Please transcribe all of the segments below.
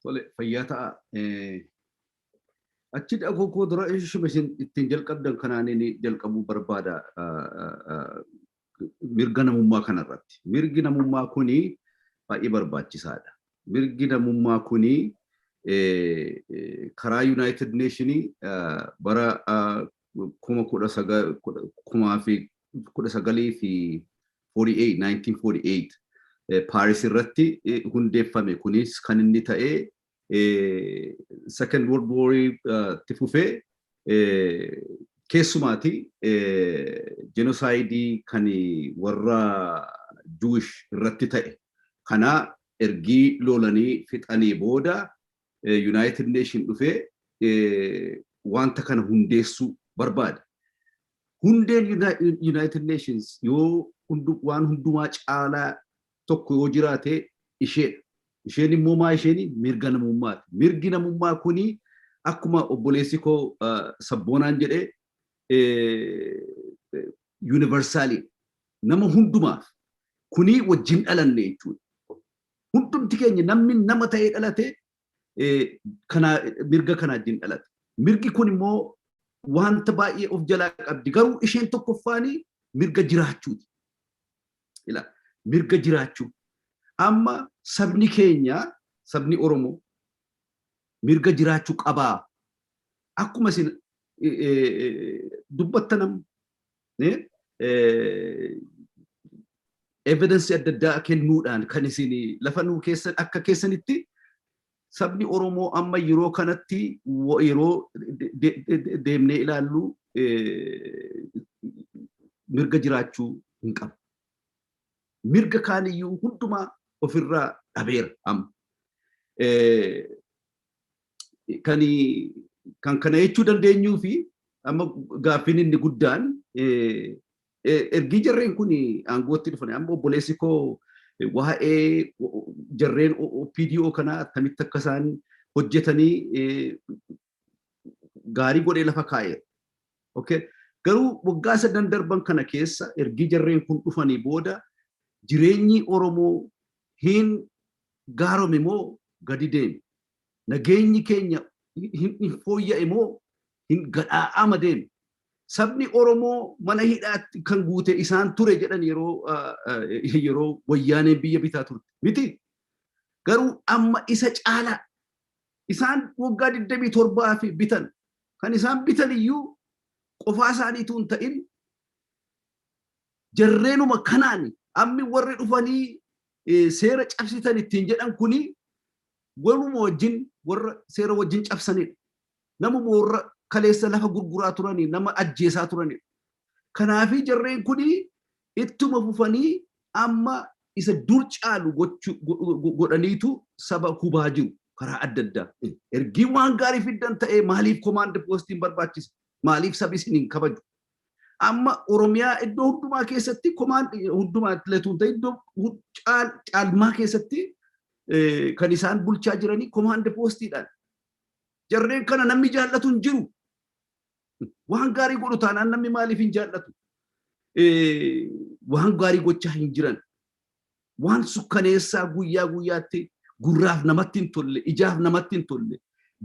Tole fayyaa ta'a. Achi dhaquu koo dura ishuma isin ittiin jalqabdan kanaan inni jalqabuu barbaada mirga namummaa kanarratti. Mirgi namummaa kuni baay'ee barbaachisaadha. Mirgi namummaa kuni karaa Yuunaayitid Neeshinii bara kuma kudha sagal kumaa fi kudha sagalii fi 48 1948 Paaris irratti hundeeffame kunis kan inni ta'e second world war itti fufee keessumaati jenosaayidii kan warra Jewish irratti ta'e kana ergii lolanii fixanii booda Yunaayitid Neeshin dhufee wanta kana hundeessuu barbaada. Hundeen Yunaayitid Neeshins yoo waan hundumaa caalaa tokko yoo jiraate isheedha. Isheen immoo maa isheen mirga namummaati. Mirgi namummaa kuni akkuma obboleessi koo sabboonaan jedhe yuunivarsaaliidha. Nama hundumaaf kunii wajjin dhalanne jechuudha. Hundumti keenya namni nama ta'ee dhalate mirga kana wajjin dhalate. Mirgi kun immoo wanta baay'ee of jalaa qabdi. Garuu isheen tokkoffaan mirga jiraachuuti. Mirga jiraachuu. Amma sabni keenya sabni Oromoo mirga jiraachuu qabaa. Akkuma isin dubbattan evidensii adda addaa kennuudhaan kan isin lafa nuu keessan akka keessanitti sabni Oromoo amma yeroo kanatti yeroo deemnee ilaallu mirga jiraachuu hin qabu. Mirga kaaniyyuu hundumaa ofirraa dhabeera amma. kan kan kana jechuu dandeenyuu fi amma gaaffiin inni guddaan ergii jarreen kun aangootti dhufan amma obboleessi koo waa'ee jarreen OPDO kanaa attamitti akka isaan hojjetanii gaarii godhee lafa kaa'eera. Okay. Garuu waggaa sadan darban kana keessa ergii jarreen kun dhufanii booda jireenyi Oromoo hin gaarome moo gadi deeme? Nageenyi keenya hin fooyya'e moo hin gadhaa'aama deeme? Sabni Oromoo mana hidhaatti kan guute isaan ture jedhan yeroo yeroo wayyaaneen biyya bitaa turte miti? Garuu amma isa caalaa isaan waggaa 27 fi bitan kan isaan bitan iyyuu qofaa isaaniituu hin ta'in jarreenuma kanaan ammi warri dhufanii seera cabsitan ittiin jedhan kuni Waluma wajjin warra seera wajjin cabsanidha. Namuma warra kaleessa lafa gurguraa turanii nama ajjeesaa turanidha. Kanaafii jarreen kuni ittuma fufanii amma isa dur caalu godhaniitu saba hubaa jiru karaa adda addaa. Ergii waan gaarii fiddan ta'ee maaliif komaand poostiin barbaachise? Maaliif sabi isin hin kabaju? Amma Oromiyaa iddoo hundumaa keessatti komaan hundumaa letuun ta'e iddoo caalmaa keessatti kan isaan bulchaa jiranii komaand poostiidhaan. Jarreen kana namni jaallatu hin jiru. Waan gaarii godhu taanaan namni maaliif hin jaallatu? Waan gaarii gochaa hin jiran. waan sukkaneessaa guyyaa guyyaatti gurraaf namatti hin tolle, ijaaf namatti hin tolle,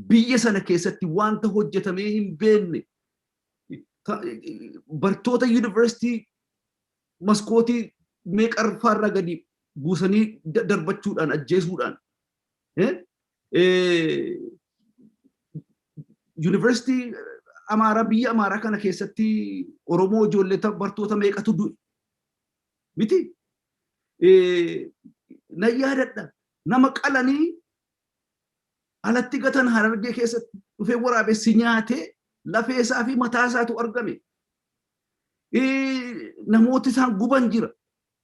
biyya sana keessatti wanta hojjetamee hin beekne ta- bartoota yuunivarsiitii maskootii meeqa irraa gadi buusanii da- darbachuudhaan ajjeesuudhaan eh, eh, yuunivarsiitii Amaaraa biyya Amaaraa kana keessatti Oromoo ijoollee ta- bartoota meeqatu du'e miti na yaadadha nama qalanii alatti gatan harargee keessatti dhufee waraabessi nyaatee lafee isaa fi mataa isaatu argame namooti isaan guban jira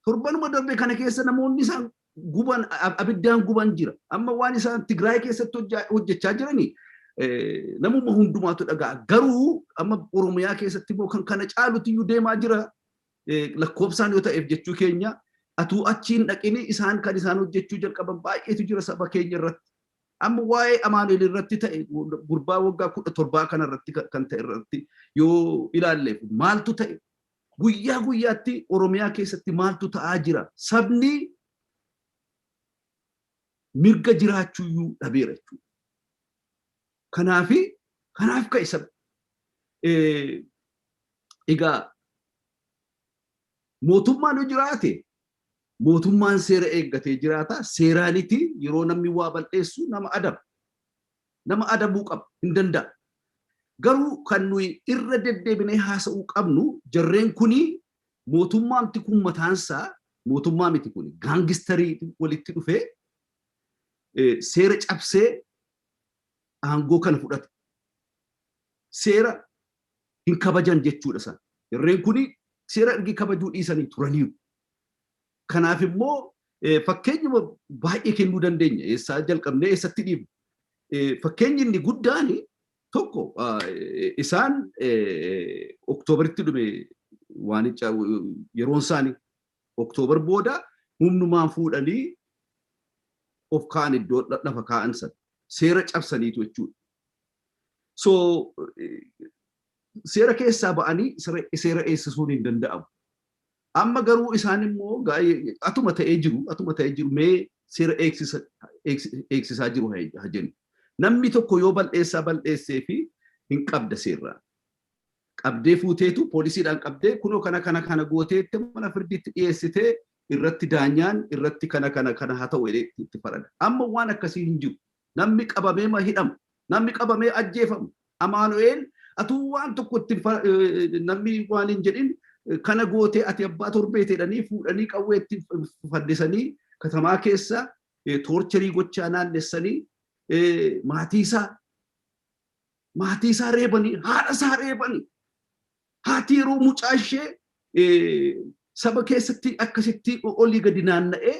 torbanuma darbe kana keessa namoonni isaan guban abiddaan guban jira amma waan isaan tigraay keessatti hojjechaa jiranii namuma hundumaatu dhagaa garuu amma oromiyaa keessatti immoo kan kana caalutti iyyuu deemaa jira lakkoobsaan yoo ta'eef jechuu keenya atuu achiin dhaqini isaan kan isaan hojjechuu jalqaban baay'eetu jira saba keenya irratti. Amma waa'ee Amaanu'el irratti ta'e gurbaa waggaa kudha torbaa kana irratti kan ta'e irratti yoo ilaalleef maaltu ta'e guyyaa guyyaatti Oromiyaa keessatti maaltu ta'aa jira sabni mirga jiraachuuyyuu dhabeera jechuudha. Kanaafi kanaaf ka'e sab egaa mootummaan yoo jiraate mootummaan seera eeggatee jiraata seeraaniti yeroo namni waa bal'eessu nama adaba nama adabuu qaba hin danda'a garuu kan nuyi irra deddeebinee haasa'uu qabnu jarreen kuni mootummaamti kun mataansaa mootummaa miti kun gaangistarii walitti dhufee seera cabsee aangoo kana fudhate seera hin kabajan jechuudha san. Irreen kun seera ergi kabajuu dhiisanii turaniiru. Kanaaf immoo fakkeenyuma baay'ee kennuu dandeenya. Eessaa jalqabnee eessatti dhiibna. Fakkeenyi inni guddaan tokko isaan oktoobaritti dhume waanicha yeroon isaanii October booda humnumaan fuudhanii of kaa'an iddoo lafa kaa'an sana. Seera cabsaniitu jechuudha. So seera keessaa ba'anii seera eegsisuun hin danda'amu. Amma garuu isaan immoo atuma ta'ee jiru atuma ta'ee jiru mee seera eegsisaa jiru haa jennu. Namni tokko yoo bal'eessaa bal'eessee fi hin qabda seerraan. qabdee fuuteetu poolisiidhaan qabdee kunoo kana kana kana gootee itti mana firdiitti dhiyeessitee irratti daanyaan irratti kana kana kana haa ta'u jedhee itti farada. Amma waan akkasii hin jiru. Namni qabamee ma hidhama. Namni qabamee ajjeefama. Amaanu'eel atuu waan tokko itti namni waan hin jedhin kana gootee ati abbaa torbeeti jedhanii fuudhanii qawwee itti faddisanii katamaa keessa toorcherii gochaa naannessanii maatii isaa Maatii isaa reebanii, haadha isaa reebanii. Haati yeroo mucaa ishee saba keessatti akkasitti olii gadi naanna'ee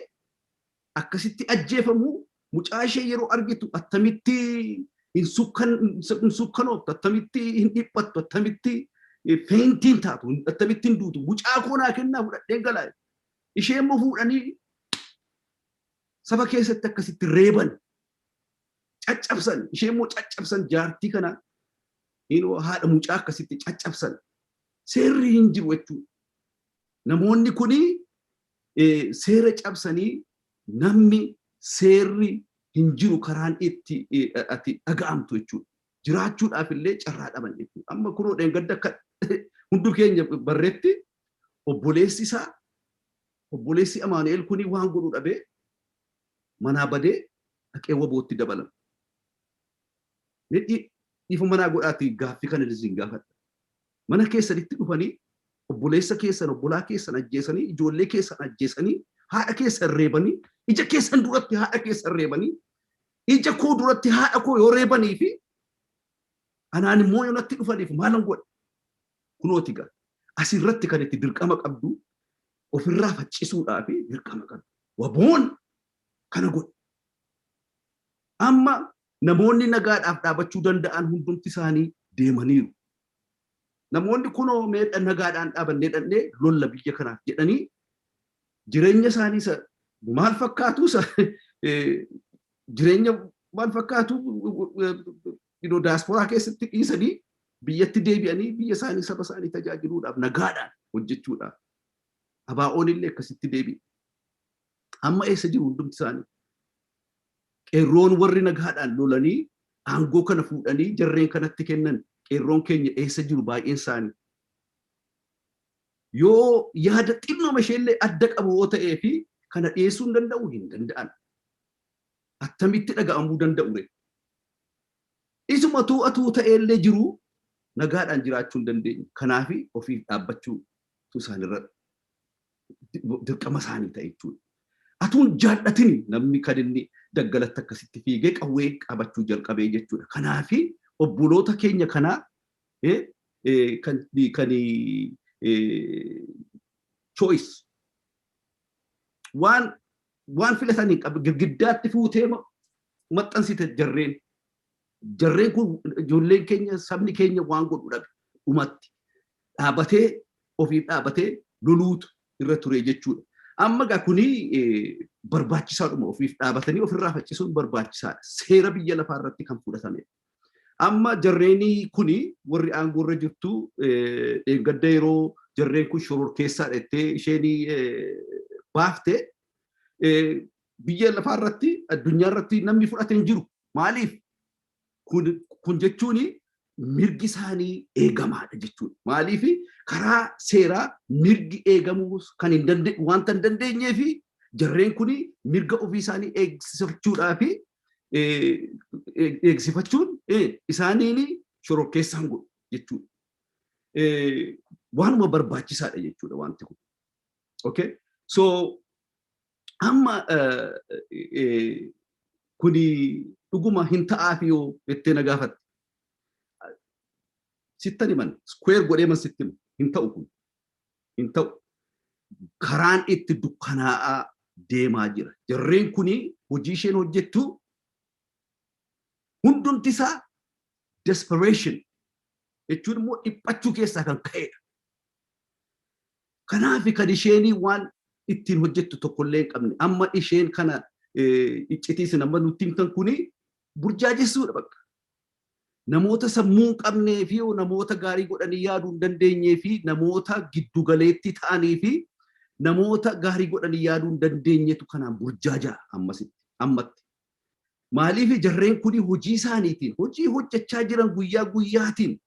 akkasitti ajjeefamu mucaa ishee yeroo argitu attamitti hin sukkanooftu, attamitti hin dhiphattu, attamitti feentiin taatu, attamitti hin duutu. Mucaa koo naa kennaa fudhadhee galaa. Ishee immoo fuudhanii saba keessatti akkasitti reeban. caccabsan ishee immoo caccabsan jaartii kana inoo haadha mucaa akkasitti caccabsan seerri hin jiru jechuu namoonni kuni seera cabsanii namni seerri hin jiru karaan itti ati dhaga'amtu jechuudha. Jiraachuudhaaf illee carraa dhaban jechuudha. Amma kunoo dheengadda akka hundu keenya barretti obboleessi isaa obboleessi Amaanu'eel kuni waan godhu dhabee manaa badee dhaqee wabootti dabalame. Mee dhi, dhiifama naa godhaatii gaaffi kanan isin gaafadha. Mana keessanitti dhufanii obboleessa keessan, obbolaa keessan ajjeesanii, ijoollee keessan ajjeesanii, haadha keessan reebanii, ija keessan duratti haadha keessan reebanii, ija koo duratti haadha koo yoo reebanii fi anaan immoo yoo natti dhufaniif maalan godha? Kunooti gaa asirratti kan itti dirqama qabdu ofirraa faccisuudhaa fi dirqama kan waboon kana godhe. Amma namoonni nagaadhaaf dhaabachuu danda'an hundumti isaanii deemaniiru. Namoonni kunoo mee nagaadhaan dhaabannee dhannee lolla biyya kanaaf jedhanii jireenya isaanii isa maal fakkaatu isa jireenya maal fakkaatu you know, daasporaa keessatti dhiisanii biyyatti deebi'anii biyya isaanii saba isaanii tajaajiluudhaaf nagaadhaan hojjechuudhaaf abaa'oon illee akkasitti deebi'e. Amma eessa jiru hundumti isaanii? Qeerroon warri nagaadhaan lolanii aangoo kana fuudhanii jarreen kanatti kennan qeerroon keenya eessa jiru baay'een isaanii. Yoo yaada xinnoma isheellee adda qabu yoo ta'ee fi kana dhiyeessuu hin danda'u hin danda'an. attamitti dhaga'amuu danda'u ree? Isumatu atuu ta'ee illee jiruu nagaadhaan jiraachuu hin dandeenye. Kanaaf ofiif dhaabbachuutu isaanirra dirqama isaanii ta'e jechuudha. Atuu hin jaal'atin namni kan inni daggalatti akkasitti fiigee qawwee qabachuu jalqabee jechuudha. Kanaaf obboloota keenya kanaa eh, eh, kan kan eh, choice waan Waan filatan hin qabne girgiddaatti fuutee maxxansite jarreen. Jarreen kun ijoolleen keenya sabni keenya waan godhu dhabe dhumatti dhaabatee ofiif dhaabatee loluutu irra ture jechuudha. Amma egaa kuni barbaachisaadhuma ofiif dhaabatanii ofirraa faccisuun barbaachisaadha. Seera biyya lafaa irratti kan fudhatamedha. Amma jarreeni kuni warri aangoo irra jirtu dheengadda yeroo jarreen kun shororkeessaa dhettee isheen baafte biyya lafaa irratti addunyaa irratti namni fudhate hin jiru. Maaliif? Kun jechuun mirgi isaanii eegamaadha jechuudha. Maaliif karaa seeraa mirgi eegamuu kan hin dandeenye wanta hin dandeenyeef jarreen kun mirga ofii isaanii eegsifachuudhaaf eegsifachuun isaaniin shororkeessaan godhu jechuudha. Waanuma barbaachisaadha jechuudha wanti kun. Okay? So amma kuni dhuguma hin ta'aafi yoo jettee na gaafatte. Sittan himan, square godhee man sitti himu hin ta'u kun. hin ta'u. Karaan itti dukkanaa'aa deemaa jira. Jarreen kuni hojii isheen hojjettu hundumti isaa desperation jechuun immoo dhiphachuu keessaa kan ka'edha. Kanaaf kan isheen waan ittiin hojjettu tokkollee hin qabne. Amma isheen kana iccitii isin amma nutti himtan kuni burjaajessuudha bakka. Namoota sammuu hin qabnee fi namoota gaarii godhanii yaaduu hin dandeenyee fi namoota giddu galeetti ta'anii fi namoota gaarii godhanii yaaduu hin dandeenyetu kanaan burjaajaa ammasitti ammatti. Maaliif jarreen kuni hojii isaaniitiin hojii hojjechaa jiran guyyaa guyyaatiin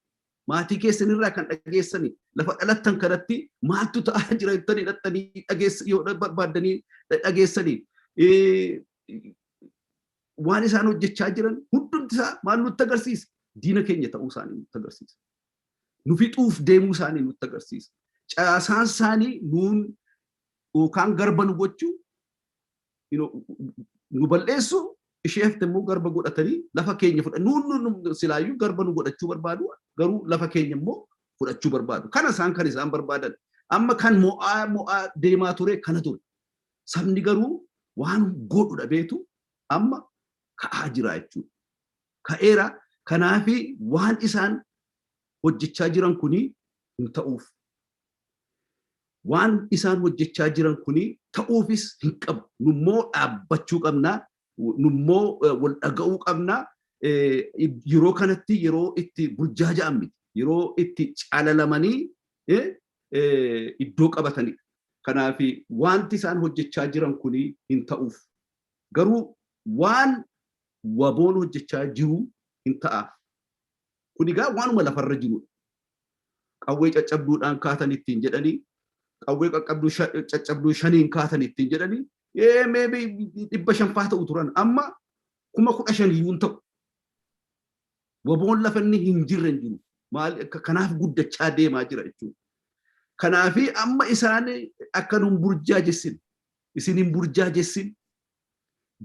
maatii keessan irraa kan dhageessanii lafa dhalattan kanatti maaltu ta'aa jira jettanii dhattanii dhageessa yoo barbaaddanii dhageessanii waan isaan hojjechaa jiran hundumti isaa maal nutti agarsiisa? Diina keenya ta'uu isaanii nutti agarsiisa. Nu fixuuf deemuu isaanii nutti agarsiisa. Caasaan isaanii nuun yookaan garba nu gochuu nu bal'eessu ishee hafte immoo garba godhatanii lafa keenya fudha nuun silaayyuu garba nu godhachuu barbaadu garuu lafa keenya immoo fudhachuu barbaadu. Kana isaan kan isaan barbaadan. Amma kan mo'aa mo'aa deemaa ture kana ture. Sabni garuu waan godhu dhabeetu amma ka'aa jira jechuudha. Ka'eera. Kanaaf waan isaan hojjechaa jiran kun hin ta'uuf. Waan isaan hojjechaa jiran kun ta'uufis hin qabu. Nummoo dhaabbachuu qabna. Nummoo wal dhaga'uu qabna. Yeroo kanatti yeroo itti burjaaja'an miti. Yeroo itti calalamanii iddoo qabatanidha. Kanaaf wanti isaan hojjechaa jiran kun hin ta'uuf. Garuu waan waboon hojjechaa jiru hin ta'aaf. Kun egaa waanuma lafarra jirudha. Qawwee caccabduudhaan kaatan ittiin jedhanii qawwee qaqqabduu caccabduu shaniin kaatan ittiin jedhanii ee meebi dhibba shanfaa ta'u turan amma kuma kudha shaniyyuu hin ta'u. Waboon lafa inni hin jirre hin jiru. Maal kanaaf guddachaa deemaa jira jechuudha. Kanaafi amma isaan akka nun burjaajessin isin hin burjaajessin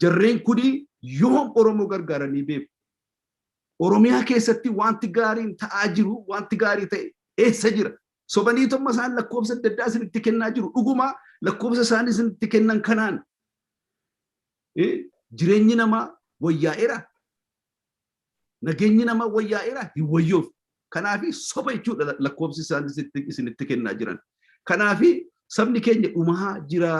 jarreen kuni yoom Oromoo gargaaranii beeku. Oromiyaa keessatti wanti gaariin ta'aa jiru wanti gaarii ta'e eessa jira? Sobanii tomma isaan lakkoofsa adda addaa isinitti kennaa jiru. Dhuguma lakkoofsa isaan isinitti kennan kanaan jireenyi namaa wayyaa'eera. Nageenyi namaa wayyaa'eera hin wayyoofne. Kanaafi soba jechuudha lakkoofsi isaan isinitti kennaa jiran. Kanaafi sabni keenya dhumaa jira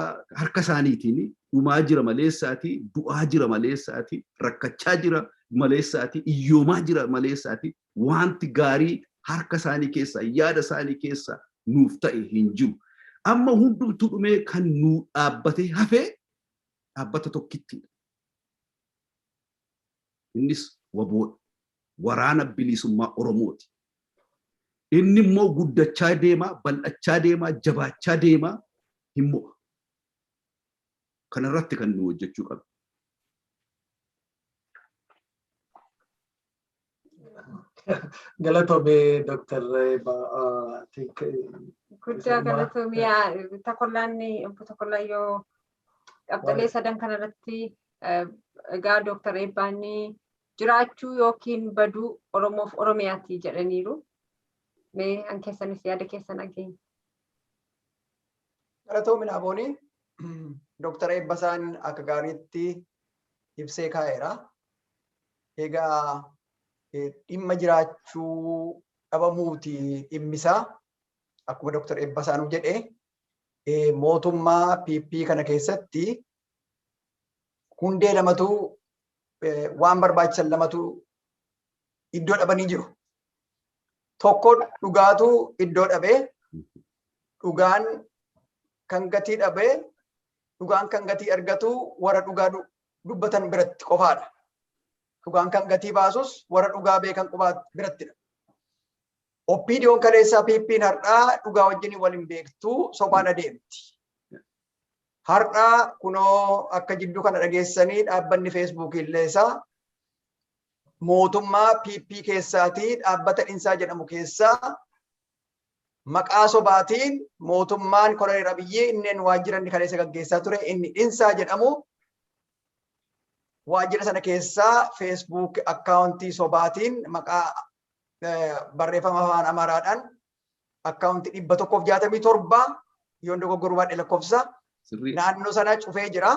harka isaaniitiin dhumaa jira maleessaati du'aa jira maleessaati rakkachaa jira maleessaati iyyoomaa jira maleessaati wanti gaarii harka isaanii keessaa yaada isaanii keessaa nuuf ta'e hin jiru. Amma hundumtuu dhumee kan nuu dhaabbatee hafee dhaabbata tokkittiidha. Innis wbo dha. Waraana Biliisummaa Oromoo ti. Inni immoo guddachaa deemaa, bal'achaa deemaa, jabaachaa deemaa hin mo'a. Kana irratti kan nuyi hojjechuu qabnu. Galatoomi Dr. Eebbaa. Guddaa galatoomi takollaan obbo Takollaan yoo qabxilee sadan kanarratti egaa Dr. Eebbaan jiraachuu yookiin baduu Oromoof Oromiyaati jedhaniiru. Mee an keessanis yaada keessan dhageenya. Galatoomi Naaboonii Dr. Eebbasaan akka gaariitti ibsee kaa'eera. Egaa dhimma jiraachuu dhabamuuti dhimmisaa akkuma Dr. Eebbasaanuu jedhe mootummaa PP kana keessatti hundee lamatu waan barbaachisan lamatu iddoo dhabanii jiru. Tokko dhugaatu iddoo dhabe dhugaan kan gatii dhabe dhugaan kan gatii argatu warra dhugaa dubbatan biratti qofaadha. Dhugaan kan gatii baasus warra dhugaa beekan qubaa birattidha. OPDOn kaleessaa PPn har'aa dhugaa wajjin wal hin beektu sobaan adeemti. Har'aa kunoo akka jidduu kana dhageessanii dhaabbanni feesbuukii illee isaa mootummaa PP keessaatii dhaabbata dhinsaa jedhamu keessaa Maqaa sobaatiin mootummaan Koloneel Abiyyii inneen waajjira inni kaleessa gaggeessaa ture inni Dhinsaa jedhamu waajjira sana keessaa Facebook akkaawuntii sobaatiin maqaa barreeffama afaan Amaaraadhaan akkaawuntii dhibba tokkoof jaatamii torba yoon dogoggoruu baadhe lakkoofsa naannoo sana cufee jira.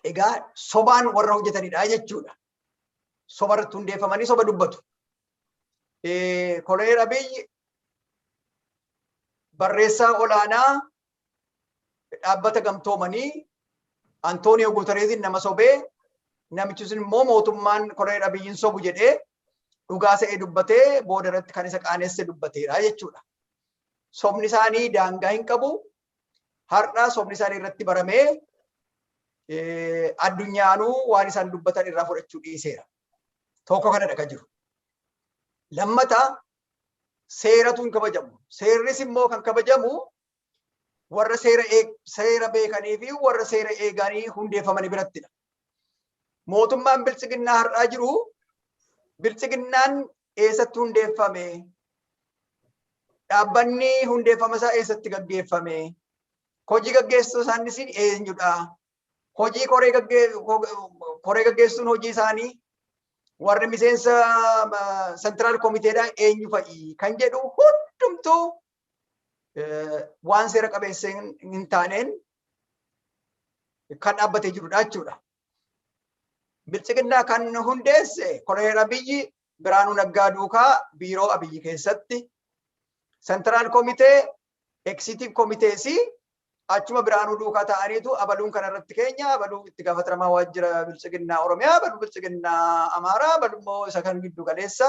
Egaa sobaan warra hojjetanidha jechuudha. soba irratti hundeeffamanii soba dubbatu. Koloneel Abiyyi barreessaa olaanaa dhaabbata gamtoomanii Antooniyoo Guutareeziin nama sobee namichi sun immoo mootummaan koloneel Abiyyiin sobu jedhee dhugaa se'ee dubbatee booda irratti kan isa qaanesse dubbateera jechuudha. Sobni isaanii daangaa hin qabu, Har'a sobni isaanii irratti baramee addunyaanuu waan isaan dubbatan irraa fudhachuu dhiiseera. Tokko kanadha kan jiru. Lammata seeratu hin kabajamu. Seerris immoo kan kabajamu warra seera beekanii fi warra seera eeganii hundeeffamanii birattidha. mootummaan biltsiginnaa har'aa jiru biltsiginnaan eessatti hundeeffame dhaabbanni hundeeffama isaa eessatti gaggeeffame hojii gaggeessuu isaaniis eenyudha hojii koree gaggeessuun hojii isaanii warri miseensa sentiraal komiteedhaa eenyu fa'i kan jedhu hundumtuu waan seera qabeessa hin taaneen kan dhaabbatee jirudha jechuudha. Biltsiginnaa kan hundeesse koloneel Abiyyi Biraanuu Naggaa duukaa biiroo Abiyyi keessatti sentiraal komitee eksiitiiv komiteesi achuma Biraanuu duukaa ta'aniitu abaluun kanarratti keenya abaluu itti gaafatamaa waajjira biltsiginnaa Oromiyaa abaluu biltsiginnaa Amaaraa abaluu immoo isa kan giddu galeessa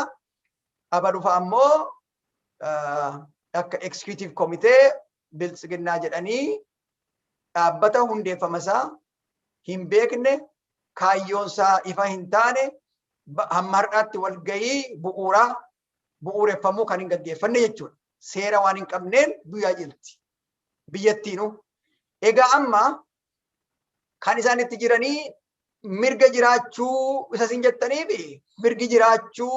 abaluufa ammoo akka eksiitiiv komitee biltsiginnaa jedhanii dhaabbata hundeeffama isaa hin beekne kaayyoon isaa ifa hin taane hamma har'aatti walgahii bu'uuraa bu'uureffamuu kan hin gaggeeffanne jechuudha. Seera waan hin qabneen biyyaa jirti. Biyyattiinu. Egaa amma kan isaan itti jiranii mirga jiraachuu isa isin jettaniif mirgi jiraachuu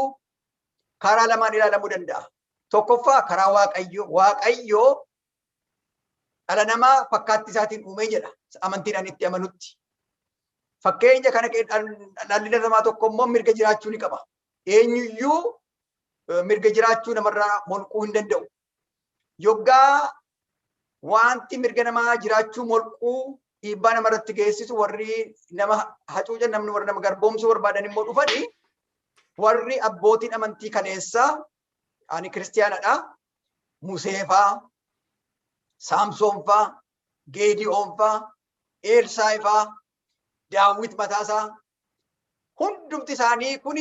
karaa lamaan ilaalamuu danda'a. Tokkoffaa karaa Waaqayyoo. Waaqayyoo dhala namaa fakkaatti isaatiin uumee jedha. Amantiidhaan itti amanutti. Fakkeenya kana dhalli namaa tokko immoo mirga jiraachuu ni qaba. Eenyuyyuu mirga jiraachuu namarraa molquu hin danda'u. Yoggaa wanti mirga namaa jiraachuu molquu dhiibbaa nama irratti geessisu warri nama hacuucan namni warri nama garboomsuu barbaadan immoo dhufanii warri abbootiin amantii kaleessaa ani kiristiyaanadha museefaa saamsoonfaa geediyoonfaa eelsaayifaa daawwit mataasaa Hundumti isaanii kun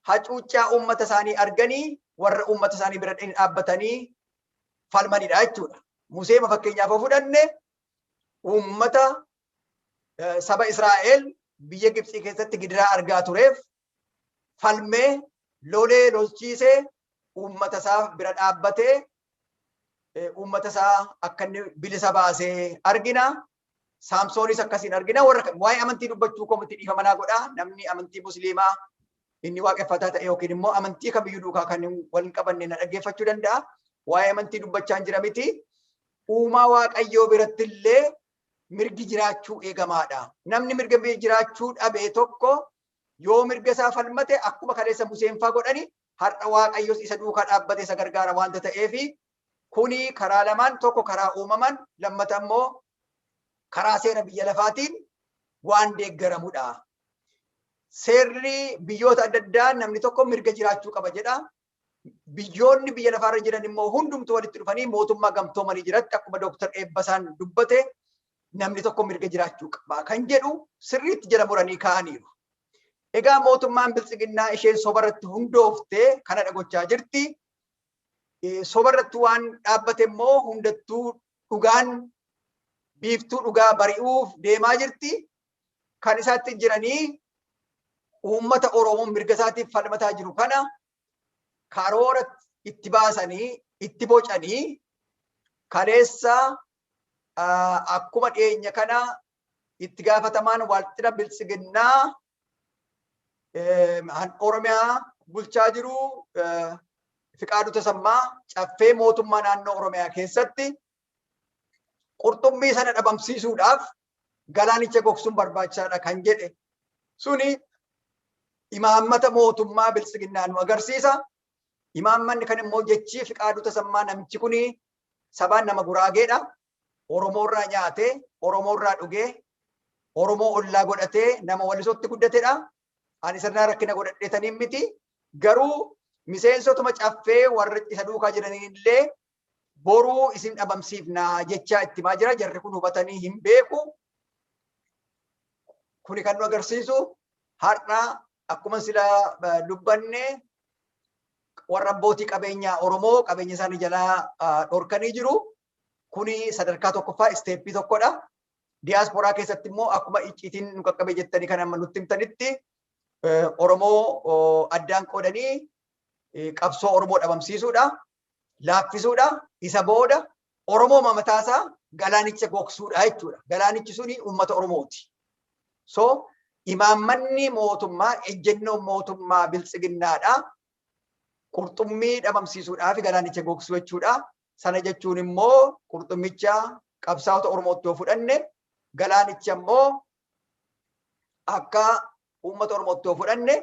hacuuccaa uummata isaanii arganii warra uummata isaanii bira dhaabbatanii falmanidha jechuudha. Musee fakkeenyaaf yoo fudhanne uummata saba Israa'el biyya Gibxii keessatti gidiraa argaa tureef falmee lolee lolchiisee uummata isaa bira dhaabbatee uummata isaa akka inni bilisa baasee argina. Saamsoonis akkasiin argina warra kan waa'ee amantii dubbachuu koo miti dhiifama naa godhaa namni amantii musliimaa inni waaqeffataa ta'e yookiin immoo amantii kamiyyuu duukaa kan wal hin qabanne na dhaggeeffachuu danda'a. Waa'ee amantii dubbachaa hin jira miti. Uumaa waaqayyoo biratti illee mirgi jiraachuu eegamaadha. Namni mirga jiraachuu dhabe tokko yoo mirga isaa falmate akkuma kaleessa Museenfaa godhani har'a waaqayyos isa duukaa dhaabbate isa gargaara waanta ta'eef Kuni karaa lamaan tokko karaa uumamaan lammata immoo karaa seera biyya lafaatiin waan deeggaramudha. Seerri biyyoota adda addaa namni tokko mirga jiraachuu qaba jedha. Biyyoonni biyya lafaarra jiran immoo hundumtu walitti dhufanii mootummaa gamtoomanii jiratti akkuma Dooktar Eebbasaan dubbate namni tokko mirga jiraachuu qaba kan jedhu sirriitti jala muranii kaa'aniiru. Egaa mootummaan biltsiginnaa isheen sobarratti hundoofte kanadha gochaa jirti. sobarratti waan dhaabbate immoo hundattuu dhugaan biiftuu dhugaa bari'uuf deemaa jirti. Kan isaatti jiranii uummata Oromoo mirga isaatiif falmataa jiru kana karoora itti baasanii itti bocanii kaleessa akkuma dhiyeenya kana itti gaafatamaan waaltina biltsiginnaa Oromiyaa bulchaa jiru Fiqaaduu Tasammaa caffee mootummaa naannoo Oromiyaa keessatti qurxummii sana dhabamsiisuudhaaf galaanicha gogsuun barbaachisaadha kan jedhe suni imaammata mootummaa biltsiginnaa nu agarsiisa. Imaammanni kan immoo jechii Fiqaaduu Tasammaa namichi kuni sabaan nama guraageedha. Oromoo irraa nyaatee, Oromoo irraa dhugee, Oromoo ollaa godhatee nama Wallisootti guddatedha. Ani sirnaa rakkina godhadheetaniin miti. Garuu miseensotuma caffee warra isa duukaa jiraniin illee boruu isin dhabamsiifna jechaa itti himaa jira. Jarri kun hubatanii hin beeku. Kuni kan nu agarsiisu har'a akkuma sila dubbanne warra abbootii qabeenyaa Oromoo qabeenya isaanii jalaa dhorkanii jiru. Kuni sadarkaa tokkoffaa isteeppii tokkodha. Diyaasporaa keessatti immoo akkuma icciitiin nu qaqqabe jettanii kan amma nutti himtanitti Oromoo addaan qoodanii qabsoo Oromoo dhabamsiisuudha, laaffisuudha, isa booda Oromoo mamataasaa galaanicha gogsuudha jechuudha. Galaanichi suni uummata Oromooti. So imaammanni mootummaa ejjennoon mootummaa biltsiginnaadha. Qurxummii dhabamsiisuudhaa fi galaanicha gogsuu jechuudha. Sana jechuun immoo qurxummicha qabsaa'ota Oromootti yoo fudhanne galaanicha immoo akka uummata Oromootti yoo fudhanne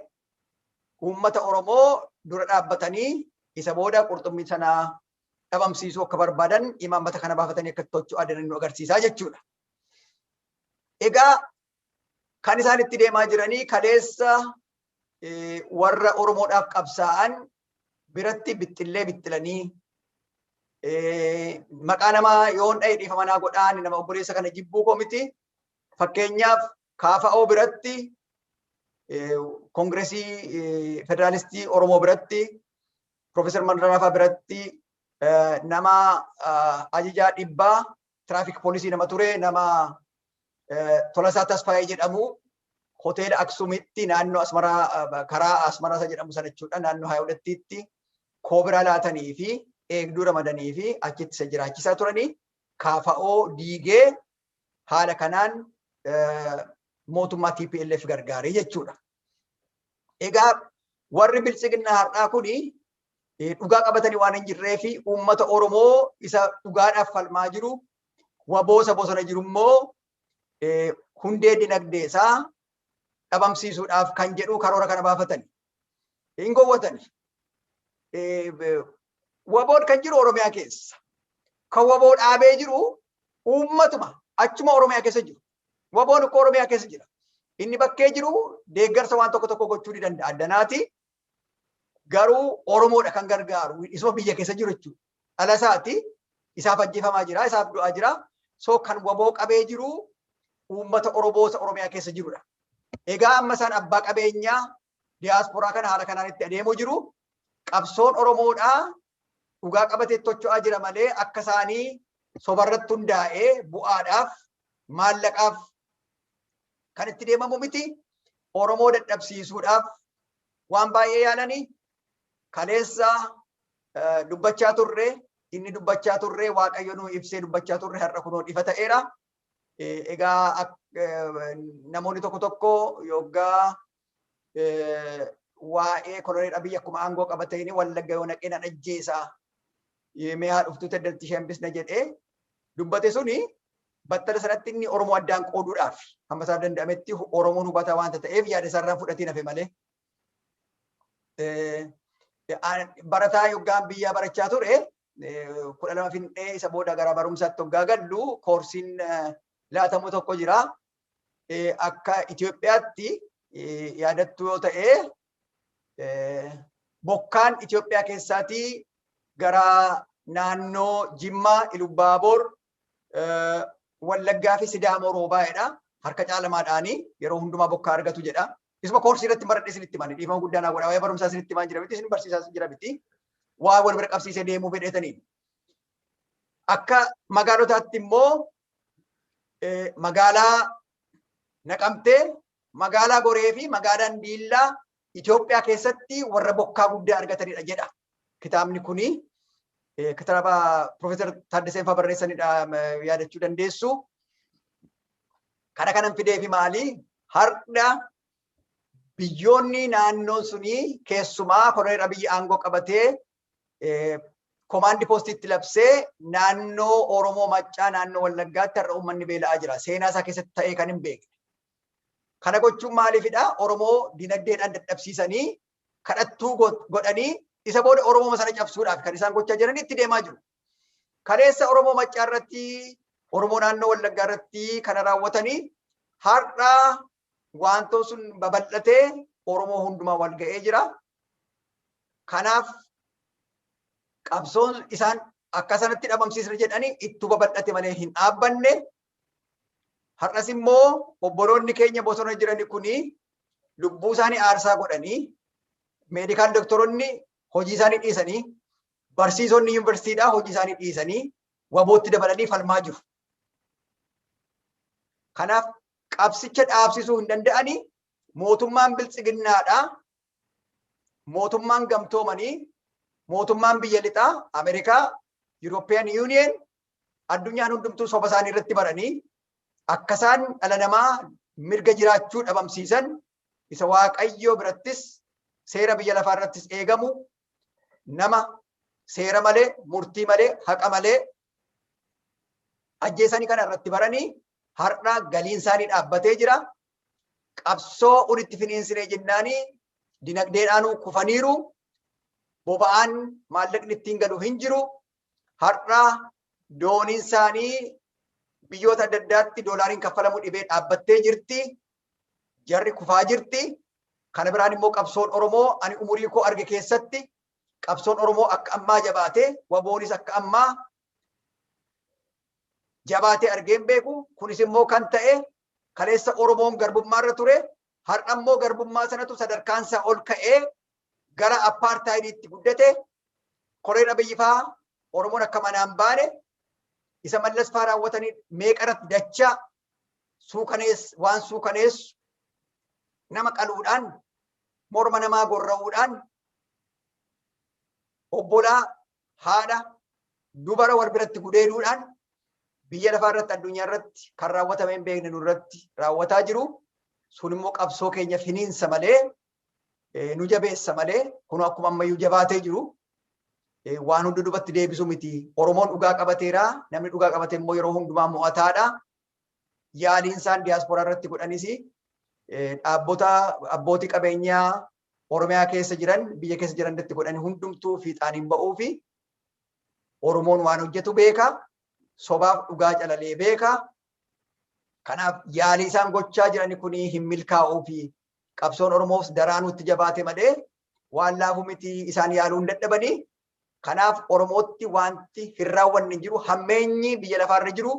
uummata Oromoo dura dhaabbatanii isa booda qurxummii sana dhabamsiisuu akka barbaadan imaammata kana baafatanii akka tochuu adeeman nu agarsiisaa jechuudha. Egaa kan isaan itti deemaa jiranii kaleessa warra Oromoodhaaf qabsaa'an biratti bixxillee bixxilanii maqaa namaa yoon dha'e dhiifama naa godhaan nama obboleessa kana jibbuu koo miti. Fakkeenyaaf kaafa'oo biratti koongiresii federaalistii Oromoo biratti Profeesar Mandarafaa biratti nama ajajaa dhibbaa tiraafik poolisii nama ture nama Tolasaa Tasfaayee jedhamu hoteela Aksumitti naannoo Asmaraa karaa Asmaraa isa jedhamu sana jechuudha naannoo Haayawulettiitti koobiraa laatanii fi eegduu ramadanii fi achitti isa jiraachisaa turanii kaafa'oo diigee haala kanaan mootummaa TPLF gargaaree jechuudha. Egaa warri biltsiginnaa har'aa kuni dhugaa qabatanii waan hin jirree fi uummata Oromoo isa dhugaadhaaf falmaa jiru waboosa bosona jiru immoo hundee dinagdee isaa dhabamsiisuudhaaf kan jedhu karoora kana baafatani. Hin gowwatani. Waboon kan jiru Oromiyaa keessa. Kan waboo dhaabee jiru uummatuma achuma Oromiyaa keessa jiru. Waboon ukkoo Oromiyaa keessa jira. Inni bakkee jiru deeggarsa waan tokko tokko gochuu ni danda'a. Addanaati garuu Oromoodha kan gargaaru isuma biyya keessa jiru jechuudha. Dhala isaati isaaf ajjeefamaa jira isaaf du'aa jira so kan waboo qabee jiru uummata Oromoo isa Oromiyaa keessa jirudha. Egaa amma isaan abbaa qabeenyaa diyaasporaa kana haala kanaan itti adeemuu jiru qabsoon Oromoodhaa dhugaa qabatee tocho'aa jira malee akka isaanii sobarratti hundaa'ee bu'aadhaaf maallaqaaf kan itti deemamu miti. Oromoo dadhabsiisuudhaaf waan baay'ee yaalanii kaleessa eh, dubbachaa turre inni dubbachaa turre waaqayyo nu ibsee dubbachaa turre har'a kunoo ifa ta'eera. Eh, Egaa ak- eh, namoonni tokko tokko yoggaa waa'ee koloneel Abiyyi akkuma aangoo qabateen wallagga yoo naqee nan ajjeesaa mee haa dhuftuu taddarti ishee hambisna jedhee dubbate suni battala sanatti inni Oromoo addaan qooduudhaaf hamma isaaf danda'ametti Oromoon hubataa waanta ta'eef yaada isaarraa fudhatiin hafe malee. Barataa yoggaan biyyaa barachaa ture kudha lama fixee isa booda gara barumsaatti hoggaa gallu koorsiin laatamu tokko jira. akka Itoophiyaatti yaadattuu yoo ta'e bokkaan Itoophiyaa keessaatii gara naannoo Jimmaa, Ilubbaaboor, Wallaggaa fi Sidaamoo roobaa'edha. Harka caalamaadhaanii yeroo hundumaa bokkaa argatu jedha. Isuma koorsii irratti baradhe isinitti mani dhiifama guddaan hawwadha. Waa'ee barumsaa isinitti maan jira miti isin barsiisaa jira miti. Waa wal bira qabsiisee deemuu fedheetanii. Akka magaalotaatti immoo magaalaa Naqamtee, magaalaa Goree fi magaalaan Diillaa Itoophiyaa keessatti warra bokkaa guddaa argatanidha jedha. Kitaabni kuni kitaaba Piroofeesar Taaddaseen fa'aa barreessanidha yaadachuu dandeessu. Kana kanan fideefi maali? Har'a biyyoonni naannoo sunii keessumaa koloneel Abiyyi aangoo qabatee komaandi poostiitti labsee naannoo Oromoo Maccaa naannoo Wallaggaatti har'a uummanni beela'aa jira. Seenaa isaa keessatti ta'ee kan hin beekne. Kana gochuun maaliifidha? Oromoo dinagdeedhaan dadhabsiisanii kadhattuu godhanii isa booda Oromoo sana cabsuudhaaf kan isaan gochaa jiran itti deemaa jiru. Kaleessa Oromoo Maccaa irratti Oromoo naannoo Wallaggaa irratti kana raawwatanii har'a waantoo sun babal'atee Oromoo hundumaa wal ga'ee jira. Kanaaf qabsoon isaan akka sanatti dhabamsiisna jedhanii ittuu babal'ate malee hin dhaabbanne. Har'as immoo obboloonni keenya bosona jiran kuni lubbuu isaanii aarsaa godhanii meedikaal doktoroonni hojii isaanii dhiisanii barsiisonni yuunivarsiitiidhaa hojii isaanii dhiisanii wabootti dabalanii falmaa jiru. Kanaaf qabsicha dhaabsisuu hin danda'ani mootummaan biltsiginnaadhaa mootummaan gamtoomanii mootummaan biyya lixaa Ameerikaa European Union addunyaan hundumtuu soba isaanii irratti baranii akka isaan dhala namaa mirga jiraachuu dhabamsiisan isa waaqayyoo birattis seera biyya lafaa irrattis eegamu nama seera malee murtii malee haqa malee ajjeesanii kana irratti baranii har'a galiin isaanii dhaabbatee jira. Qabsoo walitti finiinsinee jennaanii dinagdeedhaanuu kufaniiru. Boba'aan maallaqni ittiin galu hin jiru. Har'a dooniin isaanii biyyoota adda addaatti doolaariin kaffalamu dhibee dhaabbattee jirti. Jarri kufaa jirti. Kana biraan immoo qabsoon Oromoo ani umurii koo arge keessatti qabsoon Oromoo akka ammaa jabaatee waboonis akka ammaa jabaatee argee hin beeku. Kunis immoo kan ta'e kaleessa Oromoon garbummaa irra ture har'a immoo garbummaa sanatu sadarkaan isaa ol ka'ee gara appaartaayidiitti guddate koreen abiyyifaa Oromoon akka manaan baane isa mallas faa raawwatanii meeqa irratti dachaa suukanees waan suukaneessu nama qaluudhaan morma namaa gorra'uudhaan obbolaa haadha dubara wal biratti gudeeduudhaan biyya lafaa irratti addunyaa irratti kan raawwatame hin beekne nurratti raawwataa jiru sun immoo qabsoo keenya finiinsa malee nu jabeessa malee kun akkuma ammayyuu jabaatee jiru waan hundi dubatti deebisu miti. Oromoon dhugaa qabateera. Namni dhugaa qabate immoo yeroo hundumaa mo'ataadha. Yaaliin isaan diyaasporaa irratti godhanis dhaabbota abbootii qabeenyaa Oromiyaa keessa jiran biyya keessa jiran irratti godhan hundumtuu fiixaan hin ba'uu fi Oromoon waan hojjetu beeka. Sobaaf dhugaa calalee beeka. Kanaaf yaalii isaan gochaa jiran kun hin milkaa'uu fi qabsoon Oromoos daraanuu itti jabaate malee waan laafu miti isaan yaaluu hin dadhabani. Kanaaf Oromootti wanti hin raawwanne hin jiru hammeenyi biyya lafaarra jiru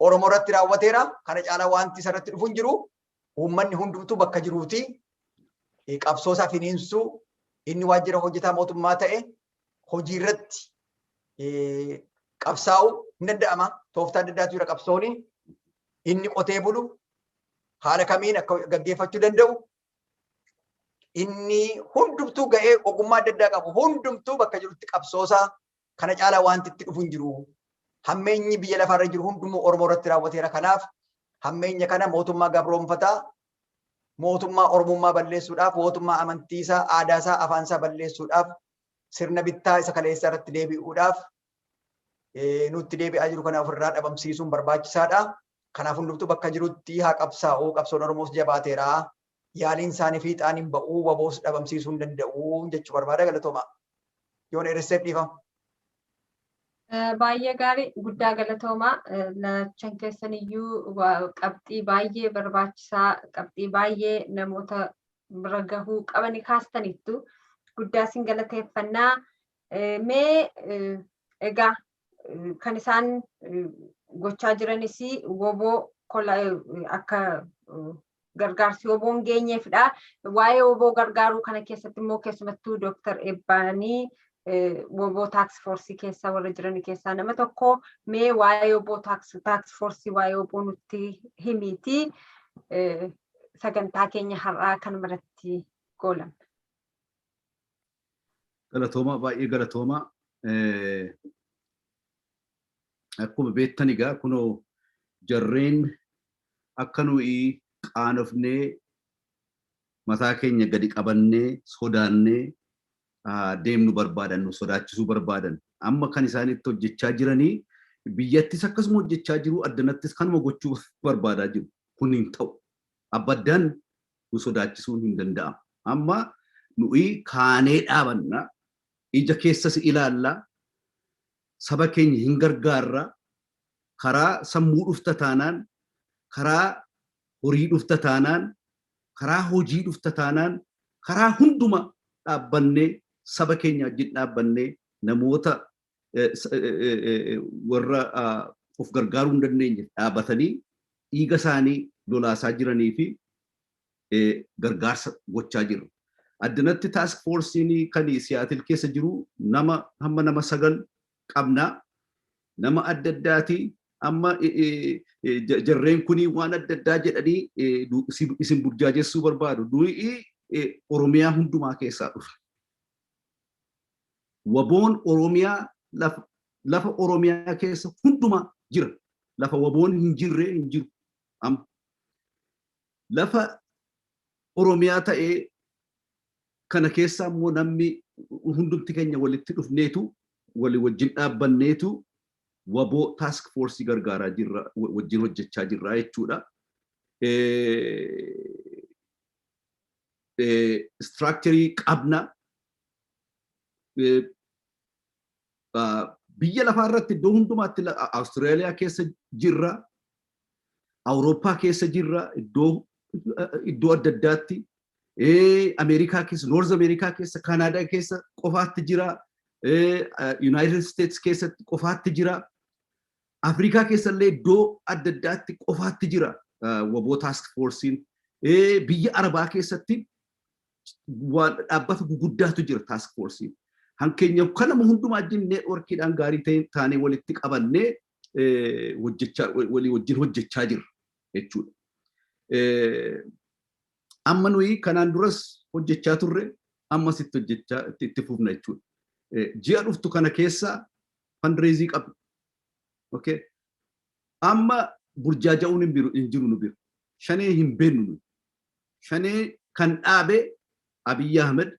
Oromoo irratti raawwateera. Kana caalaa wanti isarratti dhufu hin jiru. Uummanni hundumtuu bakka jiruuti qabsoo isaa finiinsuu inni waajjira hojjetaa mootummaa ta'e hojii irratti qabsaa'u hin danda'ama. Tooftaa adda addaatu jira qabsooni. Inni qotee bulu haala kamiin akka gaggeeffachuu danda'u inni hundumtuu ga'ee ogummaa adda addaa qabu hundumtuu bakka jirutti qabsoosaa kana caalaa wanti itti dhufu hin jiru. Hammeenyi biyya lafaarra jiru hundumuu Oromoo irratti raawwateera. Kanaaf hammeenya kana mootummaa gabroomfataa mootummaa Oromummaa balleessuudhaaf, wootummaa amantiisaa, aadaasaa, afaansaa balleessuudhaaf, sirna bittaa isa kaleessaa irratti deebi'uudhaaf nutti deebi'aa jiru kana ofirraa dhabamsiisuun barbaachisaadha. Kanaaf hundumtuu bakka jirutti haa qabsaa'u, qabsoon Oromoos jabaateera. Yaaliin isaanii fiixaan hin ba'u, waboos dhabamsiisuu hin danda'u jechuu barbaada galatoomaa. yoo dheeresseef dhiifama. Baay'ee gaarii guddaa galatoomaa lachan keessan iyyuu qabxii baay'ee barbaachisaa qabxii baay'ee namoota bira gahuu qabani kaastaniittu guddaa isin galateeffannaa mee egaa kan isaan gochaa jiranis woboo akka gargaarsi woboon geenyeefidha. Waa'ee woboo gargaaruu kana keessatti immoo keessumattuu Dooktar Ebbaanii woboo taaks foorsii keessa warra jiran keessaa nama tokko mee waa'ee woboo taaks foorsii waa'ee woboo nutti himiiti sagantaa keenya har'aa kanuma irratti goolamna. Galatoomaa baay'ee galatoomaa. Akkuma beektan egaa kunoo jarreen akka nuyi qaanofnee mataa keenya gadi qabannee sodaannee deemnu barbaadan nu sodaachisuu barbaadan. Amma kan isaan itti hojjechaa jiranii biyyattis akkasuma hojjechaa jiru addanattis kanuma gochuu barbaadaa jiru. Kun hin ta'u. Abbaddaan nu sodaachisuun hin danda'amu. Amma nuyi kaanee dhaabanna, ija keessa si ilaalla, saba keenya hin gargaarra, karaa sammuu dhufta taanaan, karaa horii dhufta taanaan, karaa hojii dhufta taanaan, karaa hunduma dhaabbannee saba keenya wajjin dhaabbannee namoota warra of gargaaruu hin dandeenye dhaabatanii dhiiga isaanii lolaasaa jiranii fi gargaarsa gochaa jiru. Addanatti taask foorsiin kan Siyaatil keessa jiru nama hamma nama sagal qabna. Nama adda addaati amma jarreen kun waan adda addaa jedhanii isin burjaajessuu barbaadu. Nuyi Oromiyaa hundumaa keessaa dhufa. Waboon Oromiyaa lafa lafa Oromiyaa keessa hundumaa jira. Lafa waboon hin jirre hin jiru. Amma lafa Oromiyaa ta'ee kana keessaa immoo namni hundumti keenya walitti dhufneetu walii wajjin dhaabbanneetu waboo taask foorsii gargaaraa jirra wajjin hojjechaa jirra jechuudha. istiraakcharii qabna. Biyya lafaa irratti iddoo hundumaatti Awustiraaliyaa keessa jirra, Awurooppaa keessa jirra, iddoo iddoo adda addaatti, Ameerikaa keessa, Noorz Ameerikaa keessa, Kaanaadaa keessa qofaatti jira, Yuunaayitid Isteets keessatti qofaatti jira. Afrikaa keessallee iddoo adda addaatti qofaatti jira waboo taask foorsiin. Biyya Arabaa keessatti dhaabbata guguddaatu jira taask foorsiin. Hankeenya kanama hundumaa wajjin neetworkiidhaan gaarii ta'e taanee walitti qabannee walii wajjin hojjechaa jirra jechuudha. Amma nuyi kanaan duras hojjechaa turre ammas itti hojjechaa itti fufna jechuudha. Ji'a dhuftu kana keessa fundraising qabna. Okay. Amma burjaaja'uun hin biru hin jiru nu biru. Shanee hin beennu nu. Shanee kan dhaabe Abiy Ahmed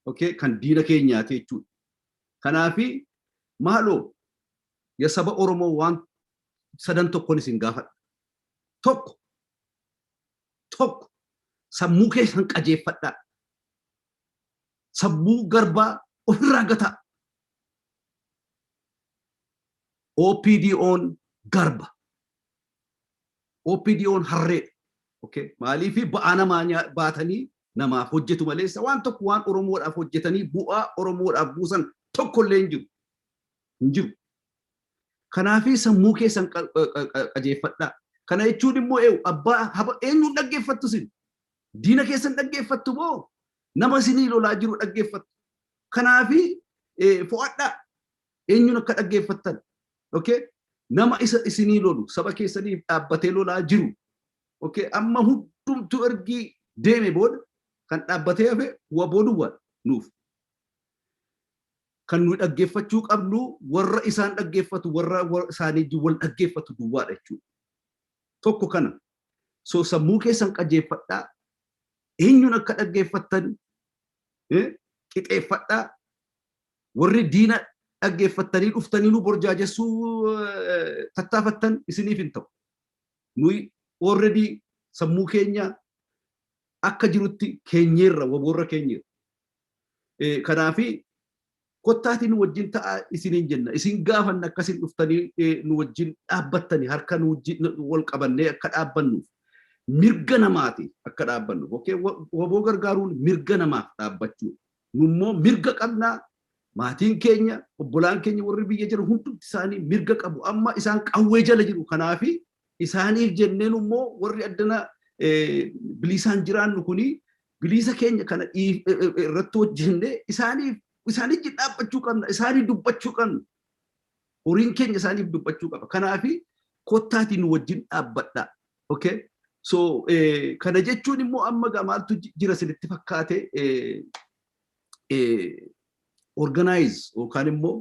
okay, kan diina keenyaati jechuudha. Kanaafi maaloo ya saba Oromoo waan sadan tokkon isin gaafadha. Tokko tokko sammuu keessan qajeeffadhaa. Sammuu garbaa ofirraa gataa. OPDOn garba. OPDOn harreedha. Okay. Maaliif ba'aa namaa nyaa- baatanii namaaf hojjetu maleessa waan tokko waan Oromoodhaaf hojjetanii bu'aa Oromoodhaaf buusan tokkollee hin jiru. Hin jiru. Kanaafii sammuu keessan qa- qa- qa- qa- qajeeffadhaa. Kana jechuun immoo eewu abbaa haba eenyuun dhaggeeffattu isin? Diina keessan dhaggeeffattu moo nama isinii lolaa jiru dhaggeeffattu? Kanaafi fo'adhaa eenyuun akka dhaggeeffattan. Okay? Nama isa isinii lolu saba keessaniif dhaabbatee lolaa jiru. Okay? Amma hundumtuu ergii deeme booda kan dhaabbatee hafe waboo duwwaadha nuuf. Kan nuyi dhaggeeffachuu qabnu warra isaan dhaggeeffatu warra isaanii wal dhaggeeffatu duwwaadha jechuudha. Tokko kana So sammuu keessan qajeeffadhaa, eenyuun akka dhaggeeffattan qixeeffadhaa, warri diina dhaggeeffattanii dhuftanii nu borjaajessuu tattaafattan isiniif hin ta'u. Nuyi already sammuu keenya akka jirutti keenyeerra waboorra keenyeerra. Kanaafi kottaatii nu wajjin ta'aa isiniin jenna. Isin gaafanna akka isin dhuftanii nu wajjin dhaabbattanii harka nu wajjin wal qabannee akka dhaabbannuuf mirga namaati akka dhaabbannuuf. Okay? Waboo gargaaruun mirga namaaf dhaabbachuu. Nu immoo mirga qabnaa maatiin keenya obbolaan keenya warri biyya jiran hundumti isaanii mirga qabu. Amma isaan qawwee jala jiru. Kanaafi Isaaniif jennee nu immoo warri addana biliisaan jiraannu kuni biliisa keenya kana irratti hojjennee isaaniif isaanitti dhaabbachuu qabna isaanii dubbachuu qabna horiin keenya isaaniif dubbachuu qaba kanaafi kottaatiin nu wajjin dhaabbadha okay so kana jechuun immoo amma gaa maaltu jira isinitti fakkaate organize yookaan immoo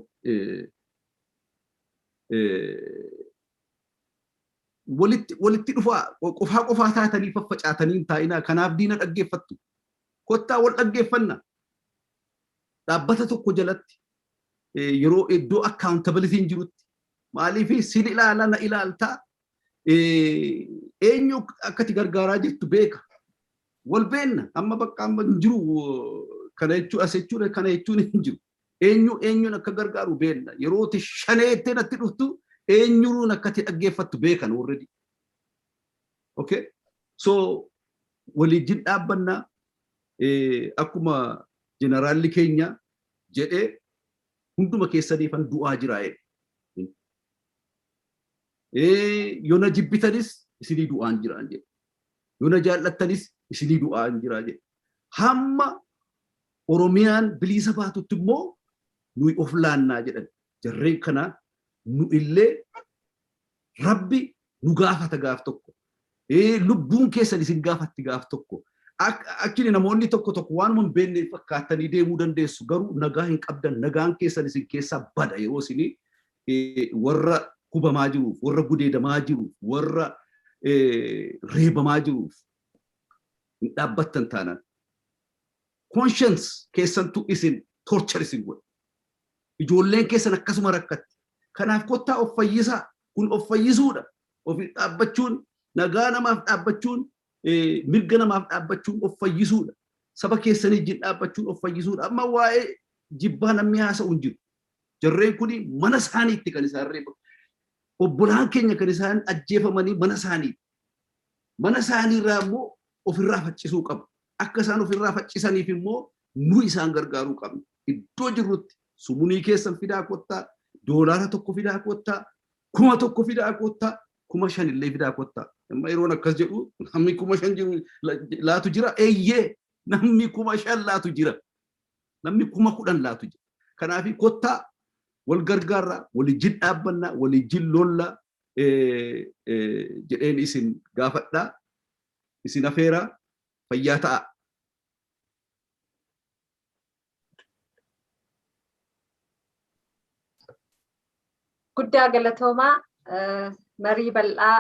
Walitti walitti dhufaa, qofaa qofaa taatanii faffacaatanii hin taa'inaa, kanaaf diina dhaggeeffattu. Kottaa wal dhaggeeffannaa. Dhaabbata tokko jalatti yeroo iddoo accountability jirutti maaliif sin ilaala na ilaaltaa eenyu akkati gargaaraa jirtu beeka. Wal beenna amma bakka amma hin jiru kana jechuun as jechuun kana jechuun hin jiru. Eenyu eenyuun akka gargaaru beenna. Yeroo ti shanee jettee natti dhuftu eenyuun akka ti dhaggeeffattu beekan already. Okay? So waliijjin dhaabbanna akkuma jeneraalli keenya jedhee hunduma keessaniifan du'aa jira jedhe. Yoo na jibbitanis isinii du'aan jira jedhe. Yoo na jaallattanis isinii du'aan jira jedhe. Hamma Oromiyaan biliisa baatutti immoo nuyi of laannaa jedhan. Jarreen kana nu illee rabbi nu gaafata gaaf tokko. Lubbuun keessan isin gaafatti gaaf tokko. Akkini namoonni tokko tokko waanuma hin beekne fakkaattanii deemuu dandeessu garuu nagaa hin qabdan nagaan keessan isin keessaa bada yeroo isin warra hubamaa jiruuf warra gudeedamaa jiruuf warra reebamaa jiruuf hin dhaabbattan taanaan. Conscience keessantu isin torture isin godhe. Ijoolleen keessan akkasuma rakkatti. Kanaaf kottaa of fayyisaa. Kun of fayyisuudha. Ofiif dhaabbachuun, nagaa namaaf dhaabbachuun, mirga namaaf dhaabbachuun of fayyisuudha. Saba keessanii wajjin dhaabbachuun of fayyisuudha. Amma waa'ee jibbaa namni haasa'u hin jiru. Jarreen kun mana isaaniitti kan isaan reebamu. Obbolaan keenya kan isaan ajjeefamanii mana isaaniitti. Mana isaaniirraa immoo ofirraa faccisuu qabu. Akka isaan of irraa faccisaniif immoo nuyi isaan gargaaruu qabna. Iddoo jirrutti sumunii keessan fidaa kottaa, doolaara tokko fidaa kottaa, kuma tokko fidaa kottaa, kuma shan illee fidaa kottaa. Amma yeroon akkas jedhu namni kuma shan jiru laatu jira. Eeyyee namni kuma shan laatu jira. Namni kuma kudhan laatu jira. Kanaaf kottaa wal gargaarraa, walijjin dhaabbannaa, walijjin lollaa jedheen isin gaafadhaa. isin afeera fayyaa ta'aa. Guddaa galatoomaa marii bal'aa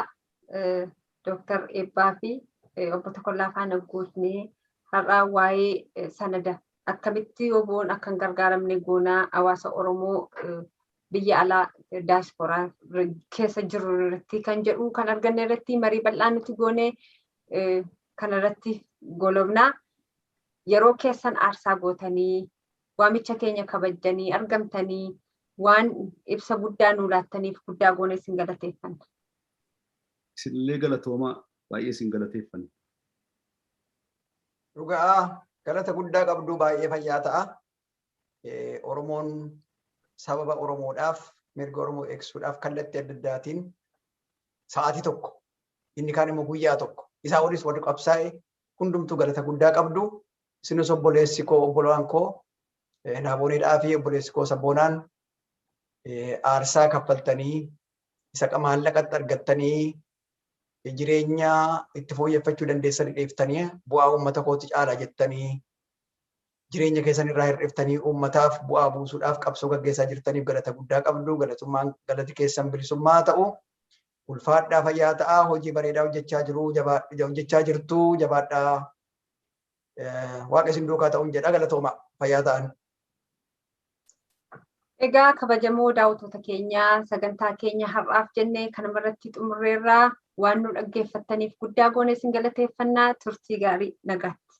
Dooktar Eebbaa fi obbo Tokollaa faana gootnee har'aa waa'ee sanada akkamitti oboon akka hin gargaaramne goonaa hawaasa Oromoo biyya alaa daasporaa keessa jirru irratti kan jedhu kan arganne irratti marii bal'aa nuti goone kan irratti golobna. Yeroo keessan aarsaa gootanii waamicha keenya kabajjanii argamtanii waan ibsa guddaa nuu laattaniif guddaa goone isin galateeffanna. Isinillee galatoomaa baay'ee isin galateeffanna. Dhugaa galata guddaa qabduu baay'ee fayyaa ta'a. Oromoon sababa Oromoodhaaf mirga Oromoo eegsuudhaaf kallattii adda addaatiin sa'aatii tokko inni kaan immoo guyyaa tokko isaa waliis warri qabsaa'e hundumtuu galata guddaa qabdu. Isinis obboleessi koo obbolaan koo Naaboneedhaa fi obboleessi koo Sabboonaan aarsaa kaffaltanii isa maallaqatti argattanii jireenya itti fooyyeffachuu dandeessanii dheeftanii bu'aa uummata kootti caalaa jettanii Jireenya keessan irraa hir'iftanii uummataaf bu'aa buusuudhaaf qabsoo gaggeessaa jirtaniif galata guddaa qabdu. Galatummaan galati keessan bilisummaa haa ta'u. Ulfaadhaa fayyaa ta'aa hojii bareedaa hojjechaa jiru jabaadh- hojjechaa jirtu jabaadhaa. Eh, Waaqa isin duukaa ta'uun jedha galatooma fayyaa ta'an. Egaa kabajamoo daawwattoota keenya sagantaa keenya har'aaf jenne kanuma irratti xumurreerraa waan nu dhaggeeffattaniif guddaa goone isin galateeffannaa turtii gaarii nagaatti.